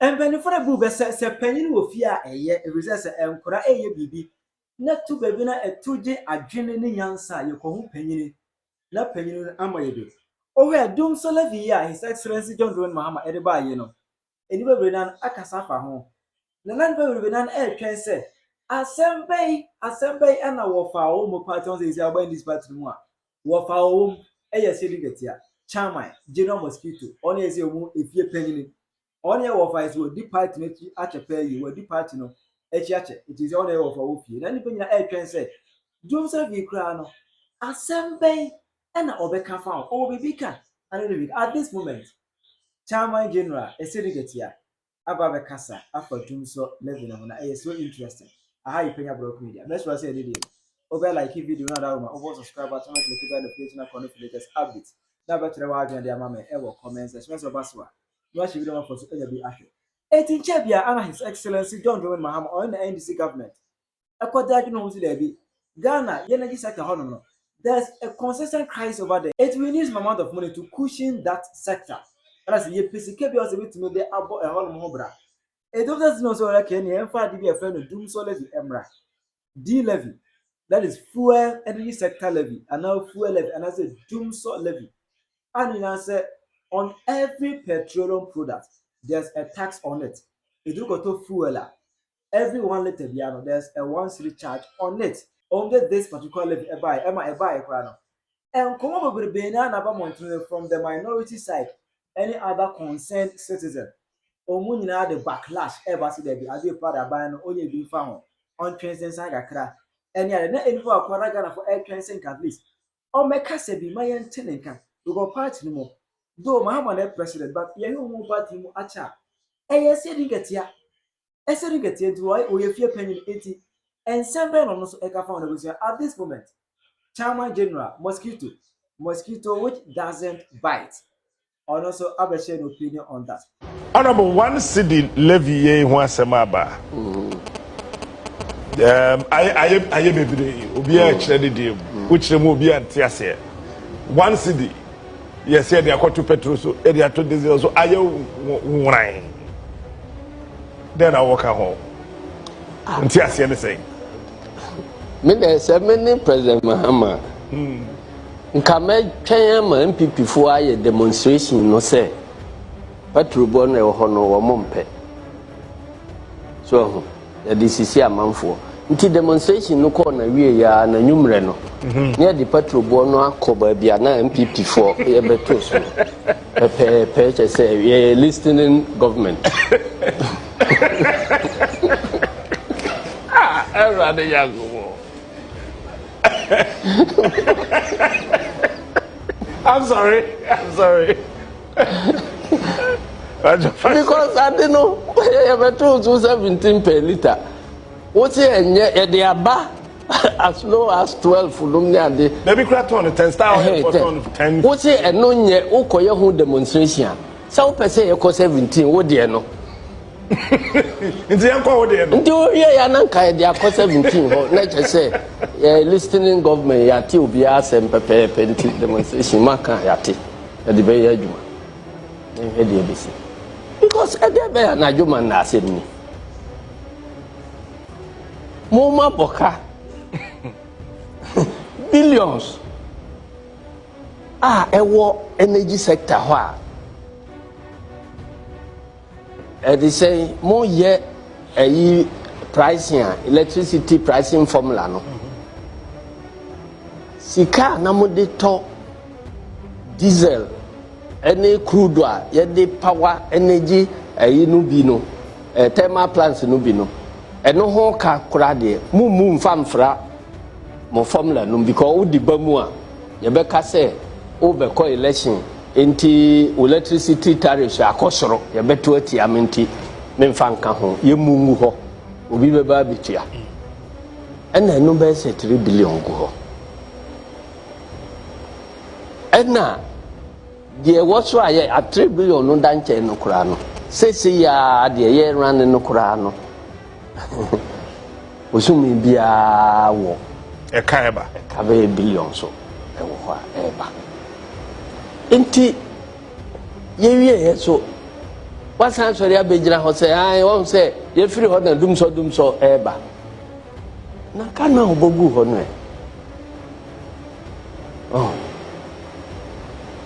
Mpanyimfo no bu bɛ sɛ, sɛ panyin wɔ fie a eye, efisɛ sɛ nkwadaa reyɛ biribi na tu baabi no a, ɛto gye adwene ne nyansa a yɛkɔhu panyin na panyin no ama yedu. Wohwɛ a, dum so levee yi a His Excellency John Dramani Mahama de bae yi no, nnipa bebree nan akasa afa ho, na na nnipa bebree nan retwɛn sɛ asɛm bɛn, asɛm bɛn na wɔfaa wɔn mu paa te ho sɛ seesei a wɔba NDC party no mu a Wɔfaa wɔn yɛ sɛ dwetwɛtea, chairman, general mosquito, wɔn yɛ sɛ wɔn efie panyin. Wɔn yɛ wɔfa sɛ wɔdi party no akyi akyɛ paa yie, wɔadi party no akyi akyɛ, nti sɛ wɔn yɛ wɔfa wɔ fie. Na nnipa nyinaa ɛretwɛn sɛ Dwom Safi koraa no, asɛm bɛn ɛna ɔbɛka fa ho, ɔwɔ biribi ka, at this moment, chairman general, ɛsɛ dwetwɛtea, aba abɛkasa afa tum so living no ho na ɛyɛ so interesting aha yɛ panya borɔko media mɛsrɛ sɛ yɛde deɛ mu wobɛ like video no adawo ma wobɔ subscribe button wobɛ click bell notification na kɔ no fi latest updates na bɛkyerɛ w'adwene de ama me ɛwɔ comment section sɛ ɔba so a na wahyɛ video ma fo so anya bi ahwɛ Eti nkyɛ bia ana His Excellency John Dramani Mahama ɔne na NDC government ɛkɔ da adwene ho so daabi Ghana yɛ energy sector hɔ nom no there's a consistent crisis over there it we need some amount of money to cushion that sector ɛna sɛ yɛpɛ sika bi a sɛ bɛtumi de abɔ ɛhɔ nom ho bra ɛdom sɛ sino sɛ ɔrɛkɛ ne ɛmfa ade bi a ɛfɛ no dum sɔ levy ɛmmra d levy that is fuel energy sector levy anaa fuel levy anaa sɛ dum sɔ levy a ne nyinaa sɛ on every petroleum product there's a tax on it ɛduru kɔtɔ fuel a every one litre biara no there's a one city charge on it only this particular levy ɛbaeɛ ɛma ɛbaeɛ koraa no nkɔmmɔ bebrebe na na aba mmɔntene from the minority side any other concerned citizen wɔn nyinaa de backlash ɛba sɛ daabi adeɛ pa de aban no ɔnyɛ bi mfa ho ɔntwɛn sɛ nsan kakra ɛne ade na ɛni hɔ akora na Ghanafoɔ ɛretwɛn sɛ nka at least wɔmmɛkasa bi ma yɛnte ne nka because party no mu though Mahama na president but yɛhwɛ wɔn party mu akyɛ a ɛyɛ sɛ di nkatia ɛsɛ ne kɛteɛ nti ɔyɛ ɔyɛ fie panyin nti nsɛm bɛn na ɔno nso ɛka fa wɔn abusua at this moment chairman general mosquito mosquito which doesn't bite ɔno nso abɛhyɛ no opinion on that. Honourable one cedi levy yei ho asɛm aba um, ayɛ ayɛ bebree obiara kyerɛ ne deɛ mu wokyerɛ mu obiara nte aseɛ one cedi yɛ sɛ de akɔto petro so de ato diesel so ayɛ nworan dɛn na wɔka ho ah. nti aseɛ ne sɛ me dɛ sɛ me ne president mahama hmm. nka mɛtwɛn ama npp foɔ ayɛ demonstration no sɛ paturobɔ no ɛwɔ hɔ no wɔn mpɛ so ɛho Yɛde sisii amanfoɔ. Nti demonstration no kɔɔ n'awieeɛ ara n'anwummerɛ no, na yɛde patroboɔ no akɔ baabi a na NPP foɔ yɛbɛto so no pɛpɛɛpɛ, kyerɛ sɛ yɛyɛ listening government. Ah, Awurade Nyankopɔn. I'm sorry, I'm sorry. because ade no yɛbɛtoo so seventeen per litre wo se ɛnyɛ yɛde aba as low as twelve nom ne ade dabi kura tɔn no ten star oil for tɔn ten wo se ɛno nyɛ wokɔyɛ ho demonstration a sɛ wopɛ sɛ yɛkɔ seventeen wo deɛ no nti yɛnkɔ wo deɛ no nti woyɛ yɛ ananka yɛde akɔ seventeen hɔ na kyɛ sɛ yɛ listening government yɛate obiara asɛm pɛpɛɛpɛ nti demonstration maka yɛate Yɛde bɛyɛ adwuma na yɛhwɛ deɛ ɛbɛsi because ɛdeɛ bɛyɛ anadwo ma nna asɛm ni moma bɔka billions a ɛwɔ energy sector hɔ a Ɛde sɛn mo yɛ ɛyi pricing a electricity pricing formula no sika na mo de tɔ diesel ɛne crude a yɛde power energy ɛyi no bi no ɛ eh, thermal plants no bi no ɛno ho ka kora deɛ mo mu nfa nfra mo formula no because wodi ba mu a yɛbɛka sɛ wobɛkɔ election. Enti wo electricity tariffs akɔ soro, yɛbɛto atia me nti memfa nka ho, yɛmmu ngu hɔ, obi bɛba abɛtua. Ɛna ɛno bɛyɛ sɛ 3 billion gu hɔ. Ɛna deɛ ɛwɔ so a yɛ a 3 billion no da nkyɛn no koraa no, seesei a deɛ yɛrane no koraa no, Bosome biara wɔ. Ɛka ɛba. Ɛka bɛyɛ billion so ɛwɔ hɔ a ɛba. Nti yɛwie yɛ so wasan sɔre abɛgyina hɔ sɛ an wɔn sɛ yɛfiri hɔ na dumsɔ dumsɔ ɛba. Na ka na ɔbɔ gu hɔ no ɛ. Oh.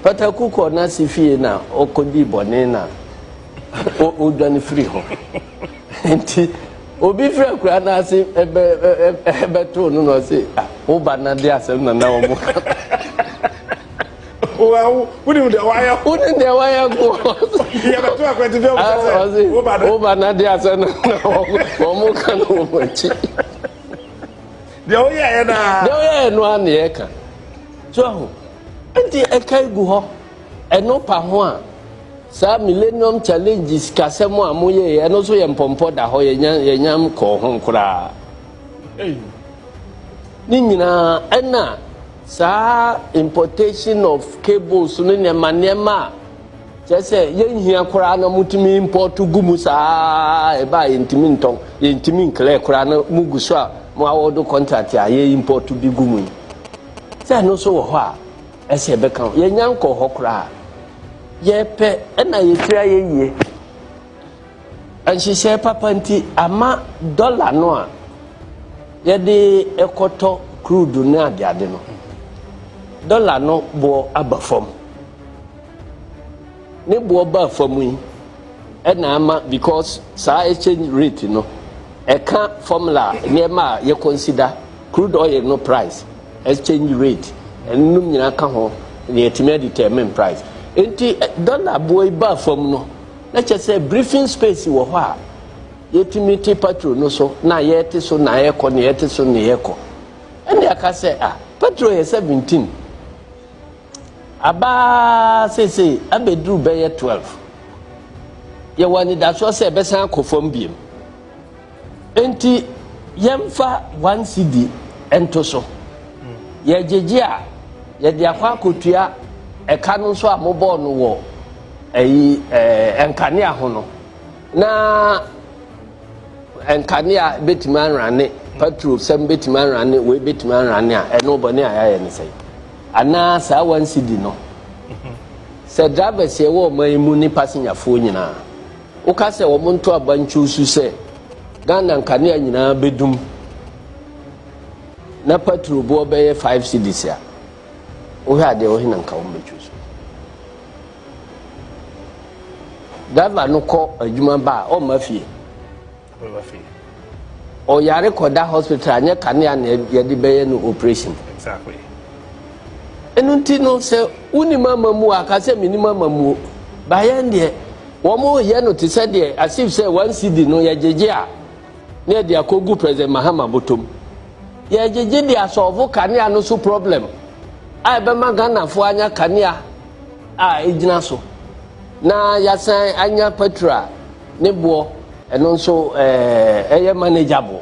Pataku kɔ na si fie na ɔkɔdi bɔne na ɔdwane firi hɔ. nti obi firi akura no ase bɛtoo no na ɔse ah, wo ba no de asɛm nana wɔ mo ka wonim deɛ wayɛ wonim deɛ wayɛ koyɛbɛto akwati bi ɔsɛ wo ba no ade asɛ no na wɔmo ka no wɔ makyi deɛ woyɛɛ no a deɛ woyɛɛ no a ne yɛka so aho nti ɛka gu hɔ Ɛno pa ho a, saa Millennium Challenge sikasɛm a moyɛeɛ, ɛno nso yɛ mpɔmpɔ da hɔ, yɛnyam kɔɔ ho koraa. Ne nyinaa ɛna saa importation of cables no nneɛma nneɛma a kyerɛ sɛ yɛnhia koraa na motumi import gu mu saa ɛba a yɛntumi ntɔn yɛntumi nklɛ koraa na mugu so a mo awɔdo contract a yɛ import bi gu mu yi sɛ ɛno nso wɔ hɔ a Ɛsɛ yɛbɛka ho. Yɛnya nkɔɔ hɔ koraa. Yɛpɛ na yɛtiri ayɛ yie. Nhyehyɛɛ papa nti ama dɔla no a yɛde ɛkɔtɔ kruudu ne adeade no, dɔla no boɔ aba fam. Ne boɔ baa fam yi ɛna ama because saa exchange rate no ɛka formula nneɛma a yɛkɔnsida crude oil no price. exchange rate nom nyinaa ka ho na yɛatumi adetermine price. Nti dɔla boɔ yi baa fam no, na kyerɛ sɛ briefing space wɔ hɔ a yɛtumi te patro no so na yɛte so na yɛkɔ na yɛte so na yɛkɔ. Ɛne aka sɛ ah patro yɛ 17 aba seesei abɛduru bɛyɛ 12 yɛwɔ anidasoɔ sɛ ɛbɛsan akɔ fam biom. Enti yɛmfa one cedi nto so. Yɛgyegye a, yɛde akɔ akotua ɛka no nso a mobɔɔ no wɔ ɛyi ɛɛ nkanea ho no. Na nkanea betumi anrane, patro sɛm betumi anrane, wei betumi anrane a, ɛno bɔne a yɛayɛ ne sɛn? Anaa saa one cedi no, sɛ drivers yɛwɔ ɔman yi mu ne pasenyafoɔ nyinaa. Woka sɛ wɔn nto abankyew su sɛ Ghana nkanea nyinaa bɛdum na patro boɔ bɛyɛ 5 cedis a wohwɛ adeɛ wo hena nka wɔn bɛtwo so driver no kɔ adwuma ba a ɔmma fie Ɔyare kɔda hospital a, nyɛ kanea na yɛde bɛyɛ no operation. Ɛno nti no sɛ wonim amamuo a, ka sɛ menim amamuo. Bayɛn deɛ, wɔn yɛ no te sɛ deɛ asif sɛ wɔn sidi no yɛgyegye a, na yɛde akɔgu President Mahama bɔtɔm. Yɛgyegye de asɔɔvo kanea no so problem a ɛbɛma Ghanafoɔ anya kanea a ɛgyina so na yɛasan anya petrol a ne boɔ ɛno nso ɛɛ ɛyɛ manageable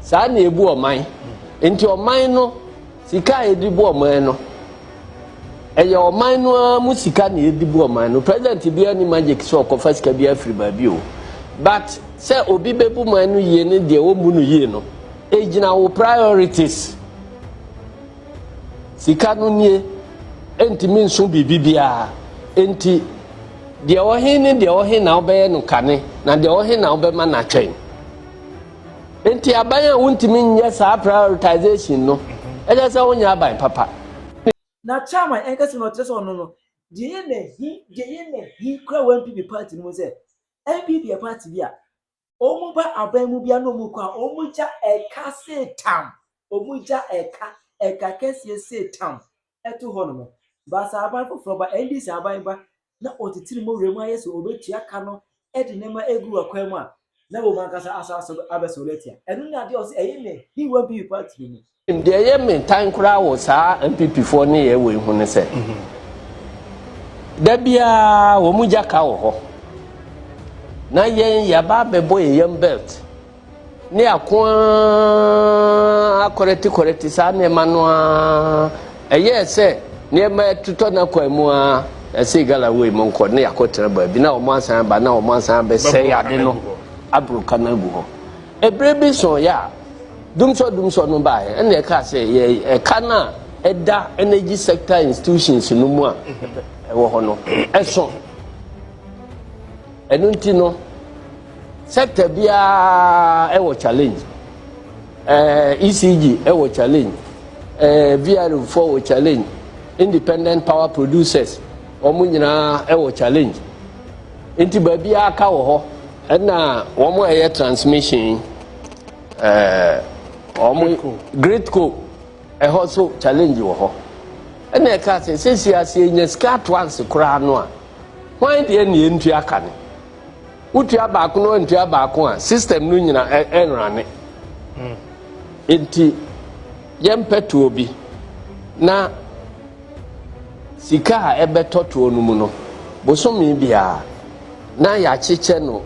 saa na ebu ɔman nti ɔman no sika a yɛde bu ɔman no ɛyɛ ɔman no ara mu sika na yɛde bu ɔman no president biara ni magic sɛ ɔkɔfa sika bi afiri baabi o but sɛ obi bɛbu man no yie ne deɛ wɔmmu no yie no egyina wo priorities sika no nie ntumi nso biribi biara nti. Deɛ ɔwɔ he ne deɛ ɔwɔ he na wobɛyɛ no kane, na deɛ ɔwɔ he na wobɛma no atwɛn. Nti aban a wontumi nyɛ saa prioritization no, ɛkyɛ sɛ wonyɛ aban papa. Na chairman ɛnkɛse no ɔkyerɛ sɛ ɔno no, deɛ yɛ na he, deɛ yɛ na he kura wɔ NPP party no mu sɛ, NPP yɛ party bi a, Wɔn ba aban mu bia na wɔn kɔ a, wɔn gya ɛka se tam. Wɔn gya ɛka, ɛka kɛseɛ se tam ɛto hɔ nom. Ba sɛ aban foforɔ ba, NDC aban ba na ɔtitiri mo wura mu ayɛ sɛ ɔbɛtua ka no de nneɛma agu akwan mu a, na wɔn ankasa asan so abɛsɔre atia. Ɛno ne adeɛ a ɔse ɛyɛ me He-Wan PP party no mu. Deɛ ɛyɛ me tan koraa wɔ saa NPPfoɔ nneyɛɛ wei ho ne sɛ, da biara wɔn gya ka wɔ hɔ. Na yɛn yɛaba abɛbɔ yɛn yam belt ne ako ara akɔrɛte kɔrɛte saa nneɛma no ara. Ɛyɛɛ sɛ nneɛma totɔ no akwan mu ara, yɛse gala wei monkɔ na yɛakɔtena baabi na wɔn asan aba na wɔn asan abɛsɛe ade no aboro ka no agu hɔ. Ɛberɛ bi sooɛ a, Dumsor Dumsor no baeɛ ɛna ɛkaa sɛ yɛ ɛka no a ɛda energy sector institutions no mu a ɛwɔ hɔ no ɛso ɛno nti no sector biara ɛwɔ challenge ɛɛ ECG ɛwɔ challenge ɛɛ VRO foɔ wɔ challenge independent power producers wɔn nyinaa ɛwɔ challenge nti baabi aka wɔ hɔ ɛna wɔn a ɛyɛ transmission. gritco ɛhɔ so challenge wɔ hɔ ɛna ɛka sɛ sɛsi ase nya sika ato anse koraa no a hwan deɛ ne yɛntua ka no wotua baako no antua baako a system no nyina ɛnrane hmm. nti yɛmpɛ toɔ bi na sika a ɛbɛtɔ toɔ no mu no bosome biara na yɛakyekyɛ no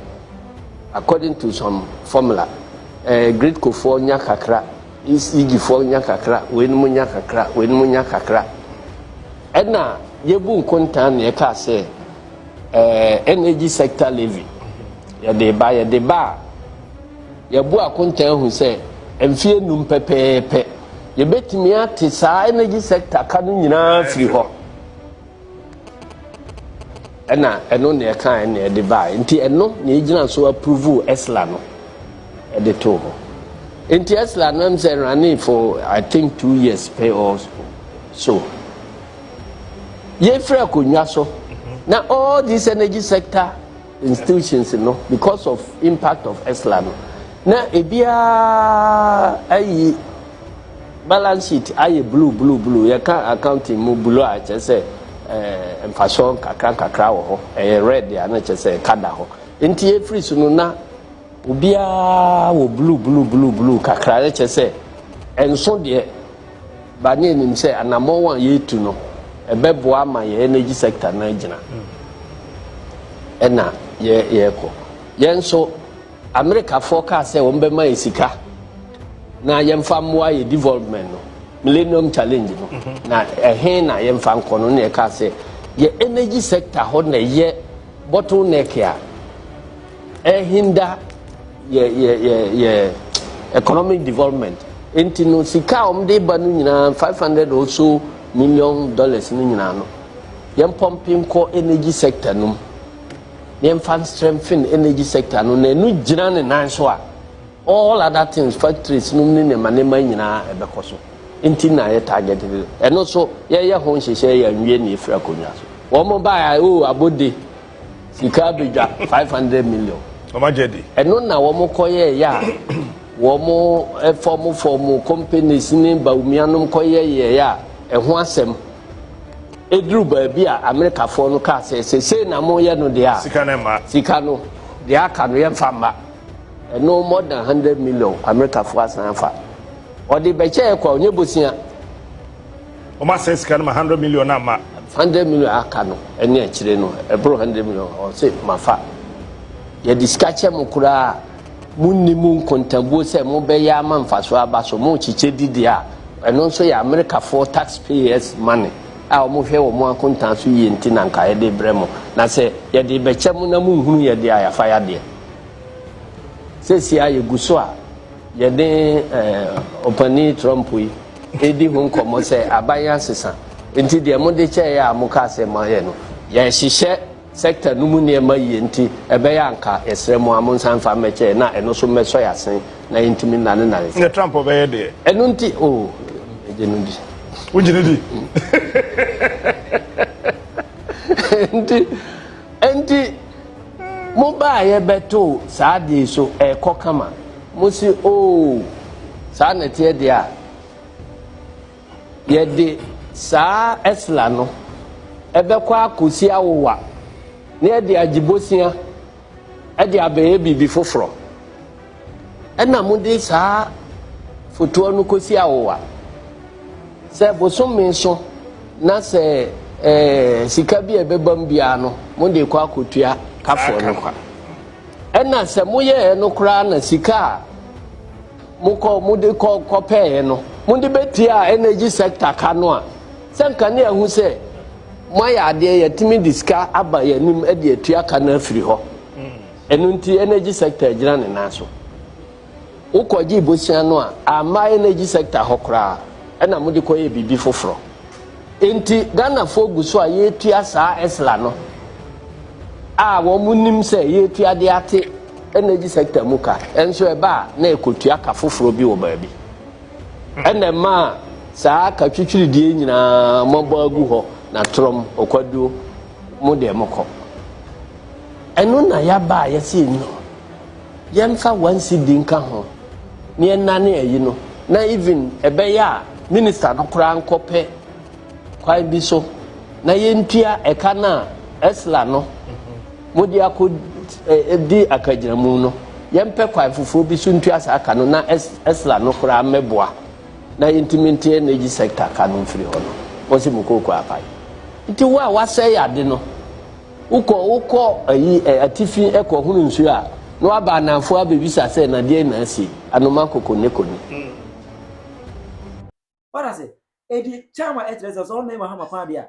according to some formula ɛɛ eh, gridcofoɔ nya kakra ecgfoɔ nya kakra weinom nya kakra weinom nya kakra ɛna yɛbu nkontan na yɛkaa sɛ ɛɛ eh, energy sector levy yɛde ba yɛde ba a yɛbu akontan hu sɛ mfie num pɛpɛɛpɛ yɛbɛtumi ate saa energy sector ka no nyinaa firi hɔ. ɛna ɛno na ɛka ɛna ɛde baa nti ɛno na egyina so approve ɛsla no ɛde too hɔ nti ɛsla no ɛm sɛ running for i think two years pay or so yɛfiri akonnwa so na all this energy sector. institutions no because of impact of esla no na ebiara ayi balance sheet ayɛ blue blue blue yɛka accounting mu blue a kyerɛ sɛ ɛɛ mfasoɔ nkakra nkakra wɔ hɔ ɛyɛ red a na kyerɛ sɛ ɛka da hɔ nti efiri so no na Obiara wɔ blue blue blue blue kakra yɛ kyɛ sɛ ɛnso deɛ ba ne anim sɛ anamɔn a yɛretu no ɛbɛboa ama yɛ energy sector no agyina ɛna yɛ yɛrekɔ yɛn nso Amerikafoɔ kaa sɛ wɔn bɛma yɛ sika na yɛmfa mmoa yɛ development no millennium challenge no mhm. na ɛhe na yɛmfa nkɔ no na yɛkaa sɛ yɛ energy sector hɔ na ɛyɛ bottleneck a ɛhinda yɛ yɛ yɛ yɛ economic development nti no sika a wɔn de ba no nyinaa five hundred or so million dollars no nyinaa no yɛn pɔmpe nkɔ energy sector no mu na yɛn fa strengthen energy sector no na ɛno gyina ne nan so a all other things factories no ne nneɛma nneɛma nyinaa ɛbɛkɔ so nti na yɛ target ɛno so yɛyɛ ho nhyehyɛ yɛ nwie na efiri akonnwa so wɔn baa o abode. Sika abɛdwa five hundred million. Wɔn agyɛ di. Ɛno na wɔn kɔyɛ yɛ a wɔn fɔm fɔm companies ne bawumianom kɔyɛ yɛ yɛ a ɛho asɛm. Eduru baabi a Amerikafoɔ no kaa sɛ sɛ sei na mo yɛ no deɛ a. Sika no mma. Sika no deɛ aka no yɛn fa mma. Ɛno more than hundred million Amerikafoɔ asan afa. Ɔde bɛkyɛ yɛ kɔ a onye bosia. Wɔn asɛn sika no ma hundred million no ama. Hundred million aka no ɛne akyire no ɛboro hundred million ɔse mafa. Yɛde sika kyɛ mo koraa mo nni mo nkontabuo sɛ mo bɛyɛ ama mfasoɔ aba so mo kyekyɛ di deɛ a ɛno nso yɛ Amerikafoɔ tax payers money a wɔn hwɛ wɔn akontaa so yie nti na nka yɛde brɛ mo na sɛ yɛde bɛkyɛ mo na mo nhunu yɛ deɛ a yɛafa yɛ adeɛ. Sɛsi a yɛgu so a yɛne eh, ɔpani Trump yi di ho nkɔmmɔ sɛ aban asesa nti deɛ mode kyɛeɛ a mokaa sɛ moayɛ no yɛhyehyɛ sector no mu nneɛma yie nti ɛbɛyɛ anka yɛsrɛ mo a monsan mfa mmɛkyɛe na ɛno so mmɛsɔ yɛ asen na yɛntumi nnane nane sɛ Trump bɛyɛ deɛ ɛno nti o oh, megye no di wogye no di nti nti Mo baeɛ bɛtoo saa adeɛ yi so ɛrekɔ kama. Mo se oo saa na ɛteɛ deɛ a, yɛde saa ɛsla no ɛbɛkɔ akɔsi awowa na yɛde agye bosea ɛde abɛyɛ biribi foforɔ. Ɛna mode saa fotoɔ no kɔsi awowa sɛ bosome so na sɛ eh, sika bi a ɛbɛbam biara no mode kɔ akɔtua kafoɔ no kwa ɛna sɛ moyɛɛ no koraa na sika a mokɔ mode kɔ kɔpɛɛ no mode bɛtua energy sector ka no a sɛ nka ne ahu sɛ moayɛ adeɛ yɛtumi de sika aba yɛn anim de atua ka no afiri hɔ Ɛno nti energy sector agyina ne nan so. Wokɔgyee bosea no a, amma energy sector hɔ koraa, ɛna mode kɔyɛɛ biribi foforɔ. Enti Ghanafoɔ gu so a yɛretua saa Esla no a wɔnim sɛ yɛretua de ate energy sector mu ka, nso ɛba a na yɛkɔtua ka foforɔ bi wɔ baabi. Ɛna ɛmaa saa ka twitwiridie nyinaa moabɔ agu hɔ, na torɔm, ɔkwaduo, Mo deɛ mo kɔ. Ɛno na yaba a yɛse nnɔ. Yɛmfa one cedi nka ho na yɛnane ayi no na even ɛbɛyɛ a minister no koraa nkɔ pɛ kwan bi so na yɛntua ɛka no a ɛsla no mode akɔ di akagyinamu no. Yɛmpɛ kwan foforɔ bi so ntua saa ka no na ɛsla no koraa mmɛboa. na yɛntumi nte energy sector ka no mfiri hɔ no wɔsi mu kooko apae nti wo a wasɛe ade no wokɔ wokɔ ayi atifi ɛkɔ hunu nsuo a na waba ananfo abɛbisa sɛ nadeɛ na asi anoma koko ne koni What does it? Edi charm a ɛkyerɛ sɛ sɛ ɔnna Mahama kwan deɛ a.